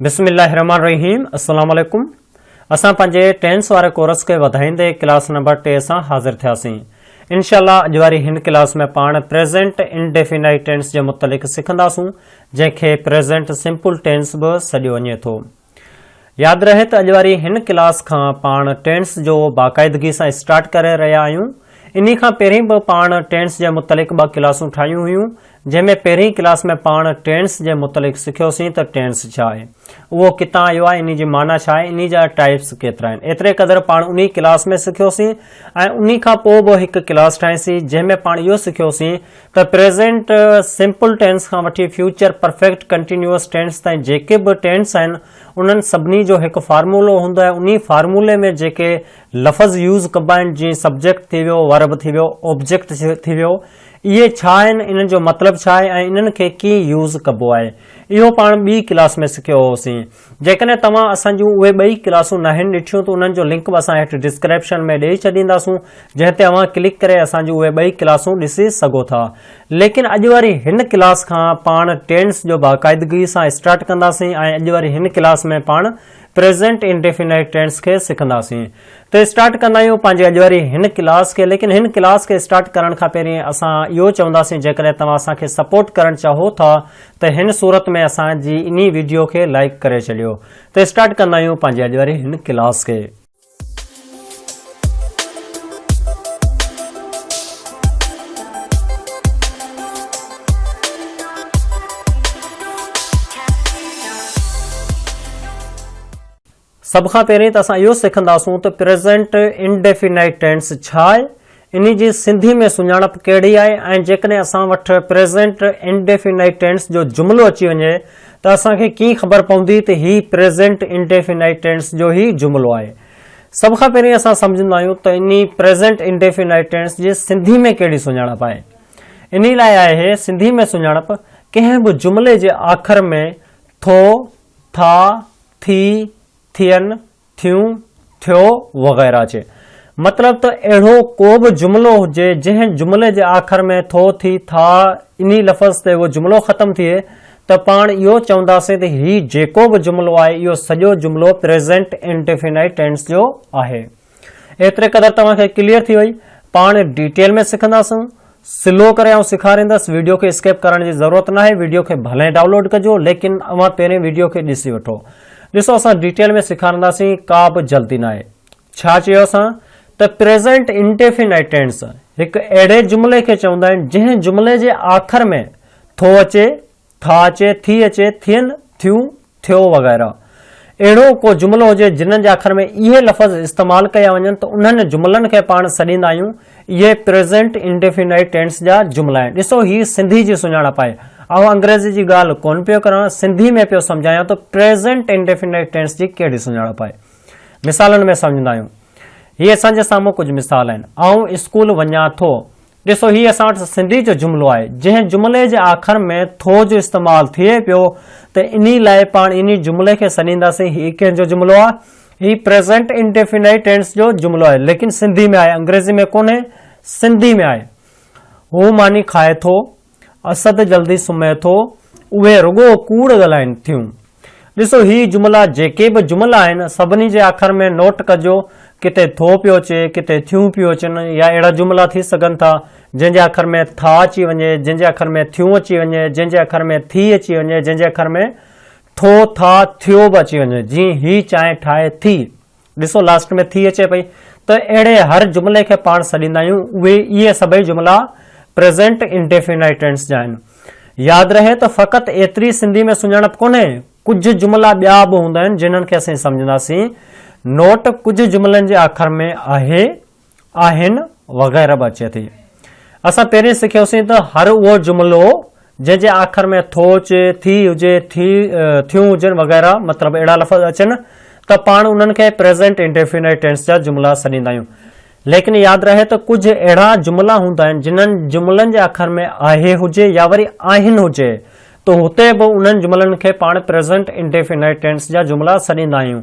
بسم الله الرحمٰن الرحيم السلام عليڪم اسان پنهنجي ٽينس واري ڪورس کي وڌائيندي ڪلاس نمبر ٽي سان حاضر ٿياسين انشاء الله اڄ واري هن ڪلاس ۾ پاڻ پريزنٽ انڊيفينائيٽ ٽينس جي متعلق سکنداسون جنهن کي پريزنٽ سمپل ٽينس به سڏيو وڃي ٿو ياد رهي ته اڄ واري هن ڪلاس کان پاڻ ٽينس جو باقاعدگي سان اسٽارٽ ڪري رهيا آهيون انهي کان پهرين به پاڻ ٽينس جي متعلق ٻه ڪلاسون ٺاهيون هيون جنهن ۾ پهرين ڪلاس ۾ پاڻ ٽينس جي متعلق سکيوسين ته ٽينس ڇا آهي؟ اهو ڪتان آيو آهي؟ انهي جي معنيٰ ڇا آهي؟ انهي جا ٽائيپس ڪيترا آهن؟ ايتري قدر پاڻ انهي ڪلاس ۾ سکيوسين ۽ انهي کان پوء به هڪ ڪلاس ٺاهيسين جنهن ۾ پاڻ اهو سکيوسين ته پريزنٽ سمپل ٽينس کان وٺي فيوچر پرفيڪٽ ڪنٽينيوئس ٽينس تائين جيڪي به ٽينس آهن انهن سڀني جو هڪ فارمولو هوندو آهي انهي فارمولي ۾ جيڪي لفظ يوز ڪبا آهن جيئن سبجيڪٽ ٿي ويو، ورب ٿي ويو، اوبجيڪٽ ٿي ويو، اهي ڇا آهن، انهن جو مطلب ڇا آهي ۽ انهن کي ڪيئن يوز ڪبو آهي. اهو پاڻ ٻي ڪلاس ۾ سکيو هوسين. جيڪڏهن توهان اسان جون اهي ٻئي ڪلاسون ناهن ڏٺيون ته انهن جو لنڪ به اسان هيٺ ڊسڪريپشن ۾ ڏئي ڇڏينداسون جنهن تي اوهان ڪلڪ ڪري اسان جون اهي ٻئي ڪلاسون ڏسي سگهو ٿا. ليڪن اڄ وري هن ڪلاس کان پاڻ ٽينس جو باقاعدگي سان اسٽارٽ ڪنداسين ۽ اڄ وري هن ڪلاس ۾ پاڻ پريزنٽ انڊيفينائيٽ ٽينس کي سکنداسين ته اسٽارٽ ڪندا آهيون پنهنجي اڄ واري هن ڪلاس کي ليڪن هن ڪلاس کي اسٽارٽ ڪرڻ کان پهرين اسان اهو چونداسين جيڪڏهن توهان اسان کي سپورٽ ڪرڻ چاهو ٿا ته هن صورت ۾ اسان جي انهي ويڊيو کي لائڪ ڪري ڇڏيو ته اسٽارٽ ڪندا آهيون پنهنجي اڄ واري هن ڪلاس کي. سڀ کان پهرين ته اسان اهو سکندا سون ته پريزنٽ انڊيفينائيٽ ٽينس ڇا آهي انهي جي سنڌي ۾ سڃاڻپ ڪهڙي آهي ۽ جيڪڏهن اسان وٽ پريزينٽ انڊيفينائيٽ ٽينس جو جملو اچي وڃي ته اسان کي ڪيئن خبر پوندي ته هي پريزينٽ انڊيفينائيٽ ٽينس جو ئي جملو آهي؟ سڀ کان پهرين اسان سمجهندا آهيون ته انهي پريزينٽ انڊيفينائيٽ ٽينس جي سنڌي ۾ ڪهڙي سڃاڻپ آهي. انهي لاء آهي سنڌي ۾ سڃاڻپ ڪنهن به جملي جي آخر ۾ ٿو، ٿا، ٿي، ٿين، ٿيون، ٿيو وغيره جي مطلب ته اهڙو ڪو به جملو هجي جنهن جملي جي آخر ۾ ٿو، ٿي، ٿا انهي لفظ تي اهو جملو ختم ٿئي ته پاڻ اهو چونداسين ته هي جيڪو به جملو آهي اهو سڄو جملو پريزنٽ انڊيفينائيٽ ٽينس جو آهي. ايتري قدر توهان کي ڪليئر ٿي وئي. پاڻ ڊيٽيل ۾ سکنداسون سلو ڪري آئون سيکاريندس ويڊيو کي اسڪيپ ڪرڻ جي ضرورت ناهي ويڊيو کي ڀلي ڊائونلوڊ ڪجو ليڪن اوهان پهرين ويڊيو کي ڏسي وٺو ڏسو اسان ڊيٽيل ۾ سيکارنداسين ڪا به جلدي ناهي ڇا چيو اسان ته پريزنٽ انڊيفينائيٽ ٽينس هڪ اهڙي جملي کي چوندا آهن جنهن جملي جي آخر ۾ ٿو اچي ٿا اچي، ٿي اچي، ٿين، ٿيون، ٿيو وغيره اهڙو ڪو جملو هجي جنھن جي آخر ۾ اهي لفظ استعمال ڪيا وڃن ته انھن جملن کي پاڻ سڏيندا آهيون اهي پريزنٽ انڊيفينائيٽ ٽينس جا جملا آهن ڏسو هي سنڌي جي سڃاڻپ آهي آئون انگريزي جي ڳالھ ڪون پيو ڪران سنڌي ۾ پيو سمجھايان ته پريزنٽ انڊيفينائيٽ ٽينس جي ڪهڙي سڃاڻپ آهي مثالن ۾ سمجھندا آهيون هي اسان جي سامهون ڪجھ مثال آهن آئون اسڪول وڃان ٿو ڏسو هي اسان وٽ سنڌي جو جملو آهي، جنهن جملي جي آخر ۾ ٿو جو استعمال ٿئي پيو ته انهي لاء پاڻ انهي جملي کي سڏينداسين هي ڪنهن جو جملو آهي؟ هي پريزنٽ انڊيفينائيٽ ٽينس جو جملو آهي ليڪن سنڌي ۾ آهي انگريزي ۾ ڪونهي سنڌي ۾ آهي هو ماني کائي ٿو اسد جلدي سمهي ٿو، اهي رڳو ڪوڙ ڳالهائين ٿيون. ڏسو هي جملا جيڪي به جملا آهن سڀني جي آخر ۾ نوٽ ڪجو ڪٿي ٿو پيو اچي ڪٿي ٿيون پيون اچن يا اهڙا جملا ٿي سگهن ٿا جنهن جي آخر ۾ ٿا اچي وڃي جنهن جي آخر ۾ ٿيون اچي وڃي جنهن جي آخر ۾ ٿي اچي وڃي جنهن جي آخر ۾ ٿو ٿا ٿيو به اچي وڃي جيئن هي چانهه ٺاهي ٿي. ڏسو لاسٽ ۾ ٿي اچي پئي ته اهڙي هر جملي کي پاڻ سڏيندا آهيون اهي اهي سڀئي جملا پريزينٽ انڊيفينائيٽ ٽينس جا آهن ياد رهي ته فقط ايتري سنڌي ۾ سڃاڻپ ڪونهي ڪجهه جملا ٻيا به هوندا آهن جنهن کي اسين سمجهنداسين نوٽ ڪجهه جملن جي آخر ۾ آهي آهن وغيره به اچي ٿي. اسان پهرين سکيوسين ته هر اهو جملو جنهن جي آخر ۾ ٿوچ، ٿي هجي، ٿي، ٿيون هجن وغيره مطلب اهڙا لفظ اچن ته پاڻ انهن کي پريزنٽ انڊيفينٽ ٽينس جا جملا سڏيندا آهيون. ليڪن ياد رهي ته ڪجهه اهڙا جملا هوندا آهن جنهن جملن جي آخر ۾ آهي هجي يا وري آهن هجي ته هتي به انهن جملن کي پاڻ پريزنٽ انڊيفينٽ ٽينس جا جملا سڏيندا آهيون.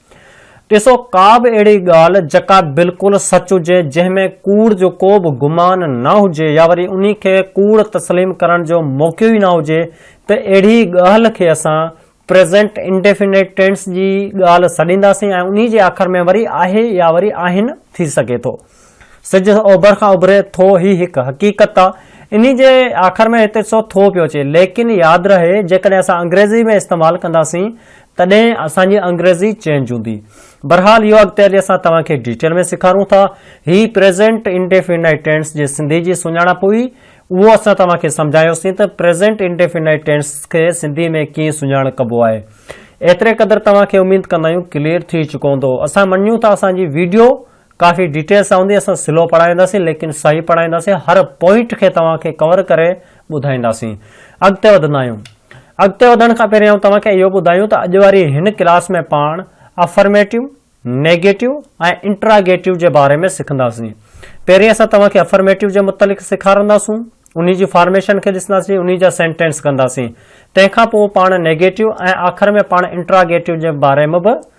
ڏسو ڪا به اهڙي ڳالهه جڪا بلڪل سچ هجي، جنهن ۾ ڪوڙ جو ڪو به گمان نه هجي يا وري انهي کي ڪوڙ تسليم ڪرڻ جو موقعو ئي نه هجي ته اهڙي ڳالهه کي اسان پريزنٽ انڊيفنيٽ ٽينس جي ڳالهه سڏينداسين ۽ انهي جي آخر ۾ وري آهي يا وري آهن ٿي سگهي ٿو. سج اوڀر کان اڀري ٿو هي هڪ حقيقت آ انهي جي آخر ۾ هتي سو ٿو پيو اچي ليڪن ياد رهي جيڪڏهن اسان انگريزي ۾ استعمال ڪنداسين تڏهن اسان جي انگريزي چينج هوندي. بھرحال اهو اڳتي هلي اسان توهان کي ڊيٽيل ۾ سيکارون ٿا. هي پريزينٽ انڊيفينائٽ ٽينس جي سنڌي جي سڃاڻپ هئي. اهو اسان توهان کي سمجهايوسين ته پريزينٽ انڊيفينائٽ ٽينس کي سنڌي ۾ ڪيئن سڃاڻ ڪبو آهي. ايتري قدر توهان کي اميد ڪندا آهيون ڪليئر ٿي چڪو هوندو. اسان مڃيون ٿا اسان جي ويڊيو. ڪافي ڊيٽيل سان هوندي اسان سلو پڙهائينداسين ليڪن صحيح پڙهائينداسين هر پوائنٽ کي توهان کي ڪور ڪري ٻڌائينداسين اڳتي وڌندا آهيون اڳتي وڌڻ کان پهرين آئون توهان کي اهو ٻڌايون ته اڄ واري هن ڪلاس ۾ پاڻ افرميٽو نيگيٽو ۽ انٽراگيٽو جي باري ۾ سکنداسين پهرين اسان توهان کي افرميٽو جي متعلق سيکارنداسون انهي جي فارميشن کي ڏسنداسين انهي جا سينٽينس ڪنداسين تنهن کان پوء پاڻ نيگيٽو ۽ آخر ۾ پاڻ انٽراگيٽو جي باري ۾ به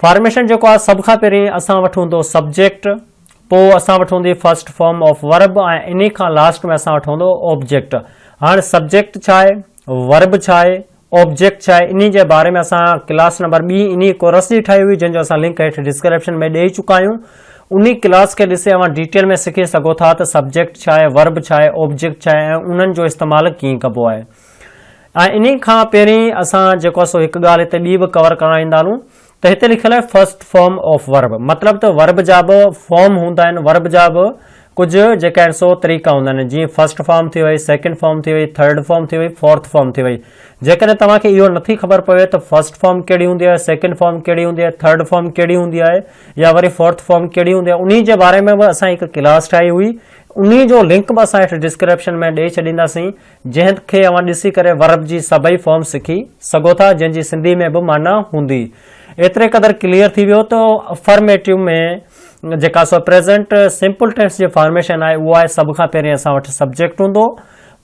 فارميشن جيڪو آهي سڀ کان پهرين اسان وٽ هوندو سبجيڪٽ پوء اسان وٽ هوندي فرسٽ فارم آف ورب ۽ انهي کان لاسٽ ۾ اسان وٽ هوندو آبجيڪٽ هاڻي سبجيڪٽ ڇا آهي ورب ڇا آهي آبجيڪٽ ڇا آهي انهي جي باري ۾ اسان ڪلاس نمبر ٻي انهي ڪورس جي ٺاهي هئي جنهن جو اسان لنڪ هيٺ ڊسڪرپشن ۾ ڏيئي چڪا آهيون انهي ڪلاس کي ڏسي اوهان ڊيٽيل ۾ سکي سگهو ٿا ته سبجيڪٽ ڇا آهي ورب ڇا آهي آبجيڪٽ ڇا آهي ۽ انهن جو استعمال ڪيئن ڪبو آهي ۽ انهي کان پهرين اسان جيڪو آهي سو هڪ ڳالهه هتي ٻي به ڪور ڪرڻ آئيندا هلون ته هتي لکيل آهي فرسٽ فارم آف ورب مطلب ته ورب جا به فارم هوندا آهن ورب جا به ڪجهه جيڪا آهن سو طريقا هوندا آهن جيئن فرسٽ فارم ٿي وئي سيڪنڊ فارم ٿي وئي ٿرڊ فارم ٿي وئي فورٿ فارم ٿي وئي جيڪڏهن توهان کي اهو نٿي خبر پوي ته فرسٽ فارم ڪهڙي هوندي آهي سيڪنڊ فارم ڪهڙي هوندي آهي ٿرڊ فارم ڪهڙي هوندي آهي يا وري فورٿ فارم ڪهڙي هوندي آهي انهي جي باري ۾ به اسان هڪ ڪلاس ٺاهي هئي انهي جو لنڪ به اسان هيٺ ڊسڪرپشن ۾ ڏئي ڇڏينداسين جنهن کي اوهان ڏسي ڪري ورب جي سڀئي فارم سکي سگهو ٿا جنهن جي سنڌي ۾ به معنيٰ هوندي. ايتري قدر ڪليئر ٿي ويو ته افرميٽو ۾ جيڪا سو پريزنٽ سمپل ٽينس جي فارميشن آهي اهو آهي سڀ کان پهرين اسان وٽ سبجيڪٽ هوندو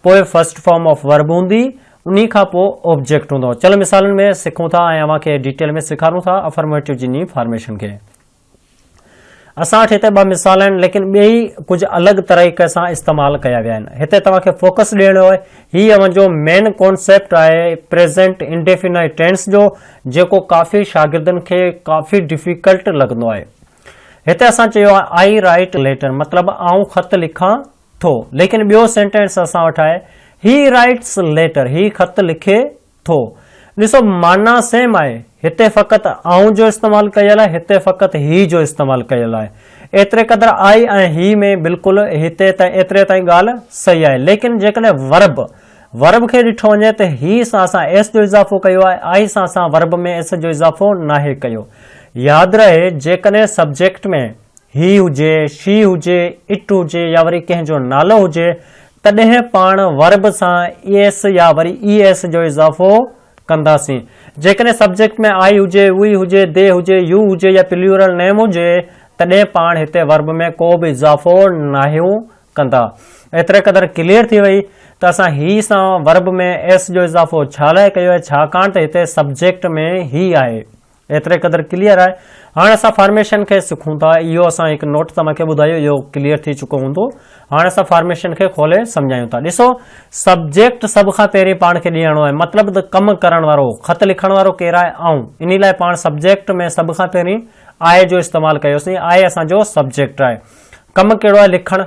پوء فرسٽ فارم آف ورب هوندي انهي کان پوء اوبجيڪٽ هوندو چلو مثالن ۾ سکون ٿا ۽ اوهان کي ڊيٽيل ۾ سيکارون ٿا افرميٽو جي ني فارميشن کي. اسان وٽ هتي ٻه مثال آهن ليڪن ٻيئي ڪجهه الڳ طريقي سان استعمال ڪيا ويا آهن. هتي توهان کي فوڪس ڏيڻو آهي. هي اوهان جو مين ڪانسيپٽ آهي پريزنٽ انڊيفينائيٽ ٽينس جو جيڪو ڪافي شاگردن کي ڪافي ڊفيڪلٽ لڳندو آهي. هتي اسان چيو آهي آئي رائيٽ ليٽر مطلب آئون خط لکان ٿو ليڪن ٻيو سينٽينس اسان وٽ آهي هي رائيٽس ليٽر هي خط لکي ٿو. ڏسو معنيٰ سيم آهي. هتي فقط آئون جو استعمال ڪيل آهي هتي فقط هي جو استعمال ڪيل آهي. ايتري قدر آء ۽ هي ۾ بلڪل هتي تائين ايتري تائين ڳالهه صحيح آهي ليڪن جيڪڏهن ورب Verb کي ڏٺو وڃي ته هي سان اسان ايس جو اضافو ڪيو آهي آء سان اسان ورب ۾ ايس جو اضافو ناهي ڪيو. ياد رهي جيڪڏهن سبجيڪٽ ۾. هي هجي، شي هجي، اٽ هجي يا وري ڪنهن جو نالو هجي، تڏهن پاڻ ورب سان ايس يا وري اي ايس جو اضافو ڪنداسين. جيڪڏهن سبجيڪٽ ۾ آء هجي، وي هجي، دي هجي، يو هجي يا پليورل نيم هجي، تڏهن پاڻ هتي ورب ۾ ڪو به اضافو ناهيون ڪندا. ايتري قدر ڪليئر ٿي وئي ته اسان هي سان ورب ۾ ايس جو اضافو ڇا لاء ڪيو آهي، ڇاڪاڻ ته هتي سبجيڪٽ ۾ هي آهي. ايتري قدر ڪليئر آهي. هاڻ اسان فارميشن کي سکون ٿا. اهو اسان هڪ نوٽ توهان کي ٻڌايو اهو ڪليئر ٿي چڪو هوندو. هاڻ اسان فارميشن کي کولي سمجهايون ٿا. ڏسو سبجيڪٽ سڀ کان پهرين پاڻ کي ڏيڻو آهي مطلب ته ڪم ڪرڻ وارو، خط لکڻ وارو ڪير آهي؟ آئون. انهي لاء پاڻ سبجيڪٽ ۾ سڀ کان پهرين I جو استعمال ڪيوسين. I اسان جو سبجيڪٽ آهي. ڪم ڪهڙو آهي؟ لکڻ.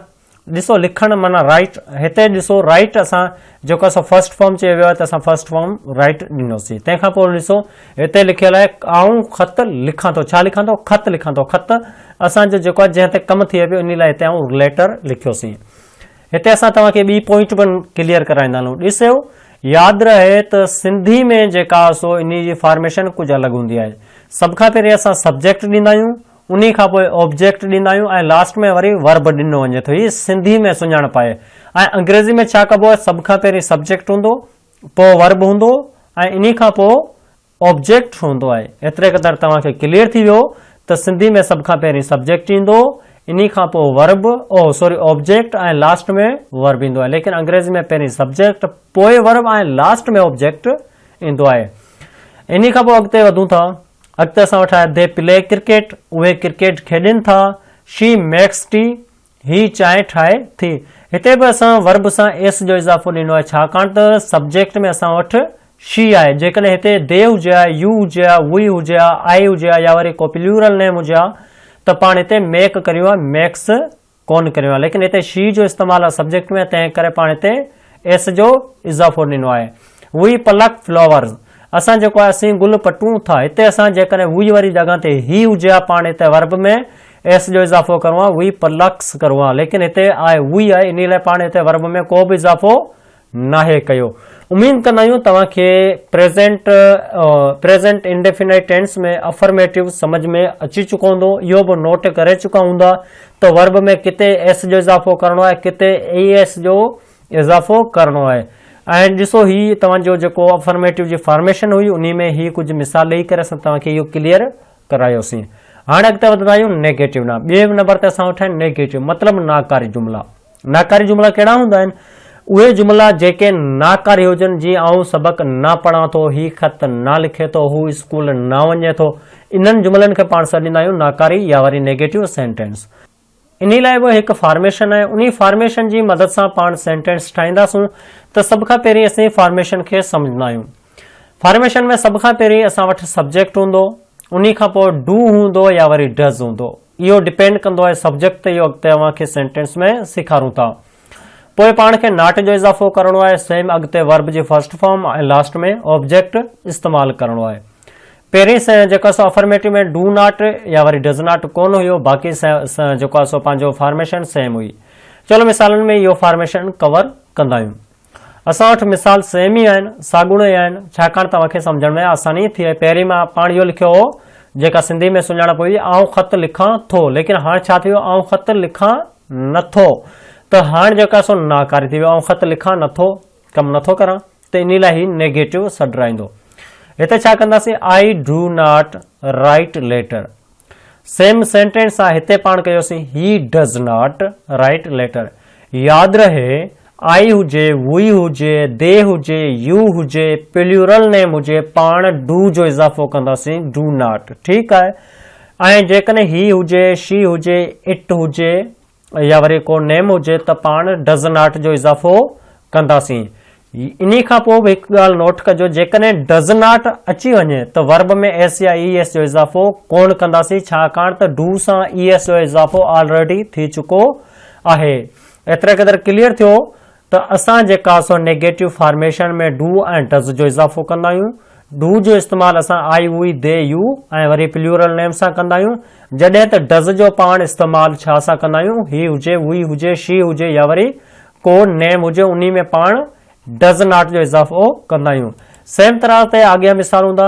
ڏسو لکڻ معنيٰ رائٽ هتي ڏسو رائٽ اسان جيڪو اسان فرسٽ فارم چيو ويو آهي ته اسان فرسٽ فارم رائٽ ڏنوسي تنهن کان پوء ڏسو هتي لکيل آهي آئون خط لکان ٿو ڇا لکان ٿو خط لکان ٿو خط اسان جو جيڪو آهي جنهن تي ڪم ٿئي پيو ان لاء هتي آئون ليٽر لکيوسي هتي اسان توهان کي ٻي پوائنٽ به ڪليئر ڪرائيندا هلون ڏسو ياد رهي ته سنڌي ۾ جيڪا سو ان جي فارميشن ڪجهه الڳ هوندي آهي سڀ کان پهرين اسان سبجيڪٽ ڏيندا آهيون انهي کان پوء آبجيڪٽ ڏيندا آهيون ۽ لاسٽ ۾ وري ورب ڏنو وڃي ٿو. هي سنڌي ۾ سڃاڻپ آهي ۽ انگريزي ۾ ڇا ڪبو آهي سڀ کان پهرين سبجيڪٽ هوندو پوء ورب هوندو ۽ انهي کان پوء آبجيڪٽ هوندو آهي. ايتري قدر توهان کي ڪليئر ٿي ويو ته سنڌي ۾ سڀ کان پهرين سبجيڪٽ ايندو انهي کان پوء ورب او سوري آبجيڪٽ ۽ لاسٽ ۾ ورب ايندو آهي ليڪن انگريزي ۾ پهرين سبجيڪٽ پوء ورب ۽ لاسٽ ۾ آبجيڪٽ ايندو آهي. انهي کان پوء اڳتي وڌون ٿا. اڳتي اسان وٽ آهي دي پلي ڪرڪيٽ اهي ڪرڪيٽ کيڏين ٿا شي ميڪس ٽي هي چانهه ٺاهي ٿي هتي به اسان ورب سان ايس جو اضافو ڏنو آهي ڇاڪاڻ ته سبجيڪٽ ۾ اسان وٽ شي آهي جيڪڏهن هتي دي هجي ها يو هجي ها وي هجي ها آء هجي ها يا وري ڪو پليورل نيم هجي ها ته پاڻ هتي ميڪ ڪريون ها ميڪس ڪونه ڪريون آهن ليڪن هتي شي جو استعمال آهي سبجيڪٽ ۾ تنهن ڪري پاڻ هتي ايس جو اضافو ڏنو آهي. وي پلڪ فلوورز اسان جيڪو آهي اسين گل پٽون ٿا هتي اسان جيڪڏهن وي واري جڳهه تي هي هجي ها پاڻ هتي ورب ۾ ايس جو اضافو ڪرون ها وي پلڪس ڪرون ها ليڪن هتي آهي وي آهي انهي لاء پاڻ هتي ورب ۾ ڪو به اضافو ناهي ڪيو. اميد ڪندا آهيون توهان کي present, Present Indefinite Tense، ۾ affirmative سمجهه ۾ اچي چڪو هوندو. اهو به نوٽ ڪري چڪا هوندا ته ورب ۾ ڪٿي ايس جو اضافو ڪرڻو آهي ڪٿي اي ايس جو اضافو ڪرڻو آهي ۽ ڏسو هي توهان جو جيڪو افرميٽو جي فارميشن هئي انهي ۾ هي ڪجهه مثال ڏئي ڪري اسان توهان کي اهو ڪليئر ڪرايوسين. هاڻ اڳتي وڌندا آهيون نيگيٽو ڏانهن. ٻئي نمبر تي اسان وٽ آهن نيگيٽو مطلب ناڪاري جملا. ناڪاري جملا ڪهڙا هوندا آهن؟ اهي جملا جيڪي ناڪاري هجن، جيئن آئون سبق نه پڙهان ٿو، هي خط نه لکي ٿو، هو اسڪول نه وڃي ٿو. انهن جملن کي پاڻ سڏيندا آهيون ناڪاري يا وري نيگيٽو سينٽينس. انهي لاء به هڪ فارميشن آهي، انهي فارميشن جي مدد سان پاڻ سينٽينس ٺاهينداسون ته سڀ کان پهرين اسين فارميشن کي سمجهندا آهيون. فارميشن ۾ سڀ کان پهرين اسان وٽ سبجيڪٽ هوندو، انهي کان پوء ڊو هوندو يا وري ڊز هوندو. اهو ڊپينڊ ڪندو آهي سبجيڪٽ تي اهو اڳتي اوهان کي سينٽينس ۾ سيکارون ٿا. پوء پاڻ کي ناٽ جو اضافو ڪرڻو آهي سيم اڳتي ورب جي فرسٽ فارم ۽ لاسٽ ۾ آبجيڪٽ استعمال ڪرڻو آهي. پهرين سين جيڪو سو افرميٽو ۾ ڊو ناٽ يا وري ڊز ناٽ ڪونه هيو باقي سين جيڪو آهي سو پنهنجو فارميشن سيم هئي. چلو مثالن ۾ اهو فارميشن ڪور ڪندايون. اسان وٽ مثال سيم ئي آهن، ساڳوڻو ئي آهن، ڇاڪاڻ ته اوهان کي سمجهڻ ۾ آساني ٿئي. پهرين مان پاڻ اهو لکيو هو، جيڪا سنڌيء ۾ سڃاڻپ هئي، آئون خط لکان ٿو، ليڪن هاڻ ڇا ٿي ويو، آئون خط لکان نه ٿو، ته هاڻ جيڪو آهي سو ناڪاري ٿي ويو، آئون خط لکان نه ٿو، ڪم نه ٿو ڪران، ته انهي لاء هي نيگيٽو سڏرائيندو. هتي ڇا ڪنداسين، I do not write letter. Same sentence آ هتي پاڻ ڪيوسين he does not write letter ياد رهي آئي هجي وي هجي دي هجي يو هجي پليورل نيم هجي پاڻ ڊو جو اضافو ڪنداسين ڊو ناٽ ٺيڪ آهي ۽ جيڪڏهن هي هجي شي هجي اٽ هجي يا وري ڪو نيم هجي ته پاڻ Does Not جو اضافو ڪنداسين. انهي کان پوء به هڪ ڳالهه نوٽ ڪجو جيڪڏهن Does Not اچي وڃي ته Verb ۾ S يا ES جو اضافو ڪونه ڪنداسين ڇاڪاڻ ته Do سان ES جو اضافو Already ٿي چڪو آهي. ايتري قدر ڪليئر ٿيو ته اسان جيڪا سو نيگيٽو فارميشن ۾ ڊو ۽ ڊز جو اضافو ڪندا آهيون. ڊو جو استعمال اسان آء، اوئي، دي، يو ۽ وري پليورل نيم سان ڪندا آهيون، جڏهن ته ڊز جو پاڻ استعمال ڇا سان ڪندا آهيون، هي هجي، هئي هجي، شي هجي يا وري ڪو نيم هجي انهي ۾ پاڻ ڊز ناٽ جو اضافو ڪندا آهيون. سيم طرح تي آڳيا مثال هوندا.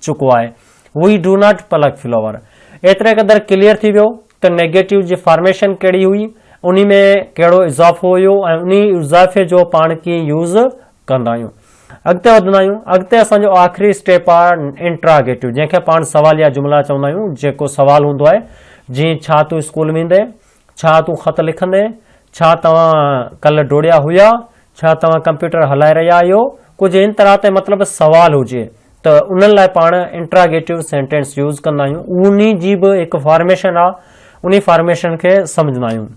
چڪو آهي اهو ئي ڊو ناٽ پلڪ فلوور ايتري قدر ڪليئر ٿي ويو ته نيگيٽو جي فارميشن ڪهڙي هئي انهي ۾ ڪهڙو اضافو هيو ۽ انهي اضافي جو پاڻ ڪيئن يوز ڪندا آهيون اڳتي وڌندا آهيون اڳتي اسان جو آخري اسٽيپ آهي انٽراگيٽو جنهن کي پاڻ سواليا جملا چوندا آهيون جيڪو سوال هوندو آهي جيئن ڇا تون اسڪول ويندين ڇا تون خط لکندين؟ ڇا توهان ڪلهه ڊوڙيا هيا؟ ڇا توهان ڪمپيوٽر هلائي رهيا آهيو؟ ڪجهه ان طرح تي مطلب سوال هجي ته انهن لاء پاڻ انٽراگيٽو سينٽينس يوز ڪندا آهيون انهي جي به هڪ فارميشن آهي انهي فارميشن کي سمجهندا آهيون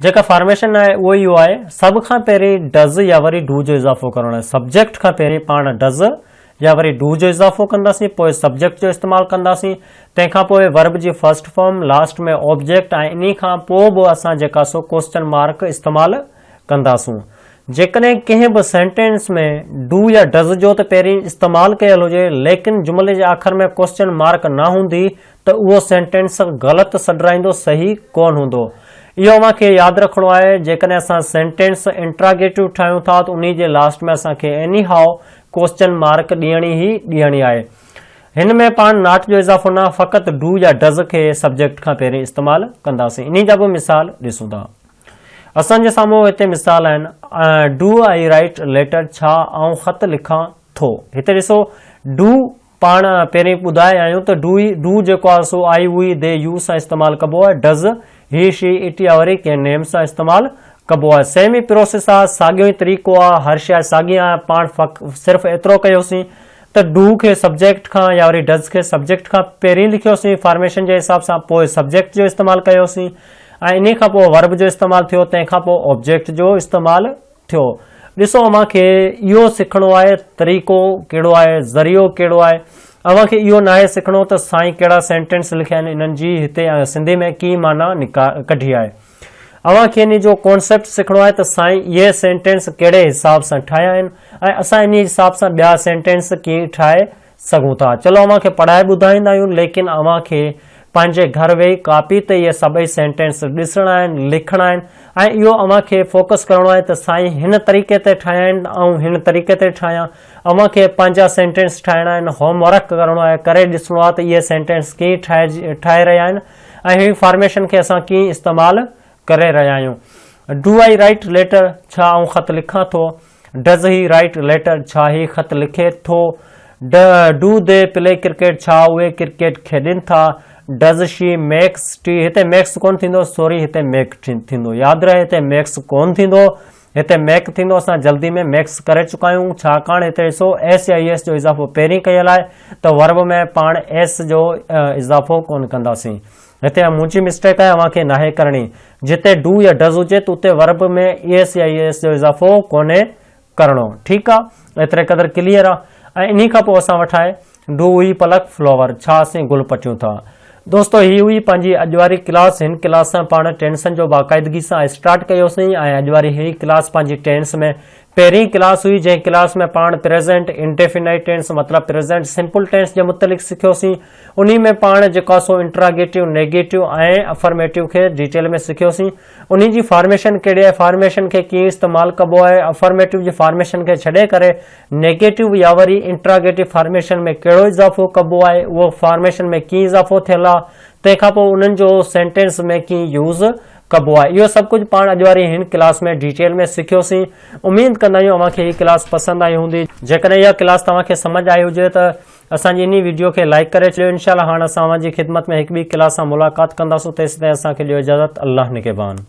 جيڪا فارميشن آهي اهو اهو آهي سڀ کان پهرين ڊز يا وري ڊو جو اضافو ڪرڻو آهي سبجيڪٽ کان پهرين پاڻ ڊز يا وري ڊو جو اضافو ڪنداسين پوء سبجيڪٽ جو استعمال ڪنداسين تنهن کان پوء ورب جي فرسٽ فارم لاسٽ ۾ آبجيڪٽ ۽ انهي کان پوء به اسان جيڪا سو ڪوسچن مارڪ استعمال ڪنداسون جيڪڏهن ڪنهن به سينٽينس ۾ ڊو يا ڊز جو ته پهرين استعمال ڪيل هجي ليڪن جملي جي آخر ۾ ڪوسچن مارڪ نه هوندي ته اهو سينٽينس غلط سڏرائيندو صحيح ڪون هوندو اهو اوهان کي ياد رکڻو آهي جيڪڏهن اسان سينٽينس انٽراگيٽو ٺاهيون ٿا ته انهي جي لاسٽ ۾ اسان کي انهي هاء ڪوسچن مارڪ ڏيڻي ئي ڏيڻي آهي. هن ۾ پاڻ ناٽ جو اضافو نه فقط ڊو يا ڊز کي سبجيڪٽ کان پهرين استعمال ڪنداسين. انهي جا به مثال ڏسون ٿا. اسان جي سامهون هتي مثال آهن، ڊو آئي رائيٽ ليٽر ڇا آئون خط لکان ٿو. هتي ڏسو ڊو پاڻ پهرين ٻڌائي آيون ته ڊو هي ڊو جيڪو آهي سو آء يو هي دي يو سان استعمال ڪبو آهي ڊز هي شي اٽ يا وري ڪنهن نيم سان استعمال ڪبو آهي سيم ئي پروسيس آ ساڳيو ئي طريقو آ هر شايد ساڳي آ پاڻ فق صرف ايترو ڪيوسين ته ڊو کي سبجيڪٽ کان يا وري ڊز کي سبجيڪٽ کان پهرين لکيوسين فارميشن جي حساب سان پوء سبجيڪٽ جو استعمال ڪيوسين ۽ انهي کان پوء ورب جو استعمال ٿيو تنهن کان پوء آبجيڪٽ جو استعمال ٿيو ڏسو اوهان کي اهو سکڻو آهي طريقو ڪهڙو آهي ذريعو ڪهڙو آهي اوهان کي اهو ناهي سکڻو ته سائين ڪهڙا سينٽينس لکيا آهن انهن جي هتي سنڌي ۾ ڪي معنيٰ ڪڍي آهي اوهان کي ان جو ڪانسيپٽ سکڻو آهي ته سائين اهي سينٽينس ڪهڙي حساب سان ٺاهيا آهن ۽ اسان ان حساب سان ٻيا سينٽينس ڪيئن ٺاهي سگهون ٿا. چلو اوهان کي پڙهائي ٻڌائيندا آهيون ليڪن اوهان کي پنهنجي گهر ويهي ڪاپي تي اهي سڀئي سينٽينس ڏسڻا آهن، لکڻا آهن ۽ اهو اوهان کي فوڪس ڪرڻو آهي ته سائين هن طريقي تي ٺاهيا آهن ته آئون هن طريقي تي ٺاهيان. اوهان کي پنهنجا سينٽينس ٺاهڻا آهن، هوم ورڪ ڪرڻو آهي، ڪري ڏسڻو آهي ته اهي سينٽينس ڪيئن ٺاهي ٺاهي رهيا آهن ۽ هن فارميشن کي اسان ڪيئن استعمال ڪري رهيا آهيون. Do I write letter? ڇا آئون خط لکان ٿو؟ Does he write letter? ڇا هي خط لکي ٿو؟ Do they play cricket? ڇا اهي ڪرڪيٽ کيڏين ٿا؟ Does she makes tea? هتي ميڪس ڪونه ٿيندو، سوري هتي ميڪ ٿيندو. ياد رهي هتي ميڪس ڪونه ٿيندو، هتي ميڪ ٿيندو. اسان جلدي ۾ ميڪس ڪري چڪا آهيون، ڇاڪاڻ هتي ڏسو ايس يا اي ايس جو اضافو پهرين ڪيل آهي ته ورب ۾ پاڻ ايس جو اضافو ڪونه ڪنداسين. هتي اها منهنجي مسٽيڪ آهي اوهان کي ناهي ڪرڻي جتي ڊو يا ڊز هجي ته اتي ورب ۾ ايس يا اي ايس جو اضافو ڪونهي ڪرڻو ٺيڪ آ ايتري قدر ڪليئر آ ۽ انهي کان پوء اسان وٽ آهي ڊو هئي پلڪ فلوور ڇا اسين گل پٽيون ٿا دوستو هي هئي پنهنجي اڄ واري ڪلاس هن ڪلاس سان پاڻ ٽينسن جو باقاعدگي سان اسٽارٽ ڪيوسين ۽ اڄ واري هي ڪلاس پنهنجي ٽينس ۾ پهرين ڪلاس هئي جنهن ڪلاس ۾ پاڻ پريزنٽ انڊيفينائيٽ ٽينس مطلب پريزنٽ سمپل ٽينس جي متعلق سکيوسين انهي ۾ پاڻ جيڪا سو انٽراگيٽو نيگيٽو ۽ افرميٽو کي ڊيٽيل ۾ سکيوسين انهي جي فارميشن ڪهڙي آهي فارميشن کي ڪيئن استعمال ڪبو آهي افرميٽو جي فارميشن کي ڇڏي ڪري نيگيٽو يا وري انٽراگيٽو فارميشن ۾ ڪهڙو اضافو ڪبو آهي اهو فارميشن ۾ ڪيئن اضافو ٿيل آهي تنهن کان پوء انهن جو سينٽينس ۾ ڪيئن يوز ڪبو آهي اهو سڀ ڪجهه پاڻ اڄ واري هن ڪلاس ۾ ڊيٽيل ۾ سکيو سين اميد ڪندا آهيون اوهان کي هي ڪلاس پسند آئي هوندي جيڪڏهن اها ڪلاس توهان کي سمجهه آئي هجي ته اسان جي انهي ويڊيو کي لائيڪ ڪري ڇڏيو انشاء الله هاڻ اسان اوهان جي خدمت ۾ هڪ ٻي ڪلاس سان ملاقات ڪنداسون تيسين تائين اسان کي ڏيو اجازت الله نگهبان.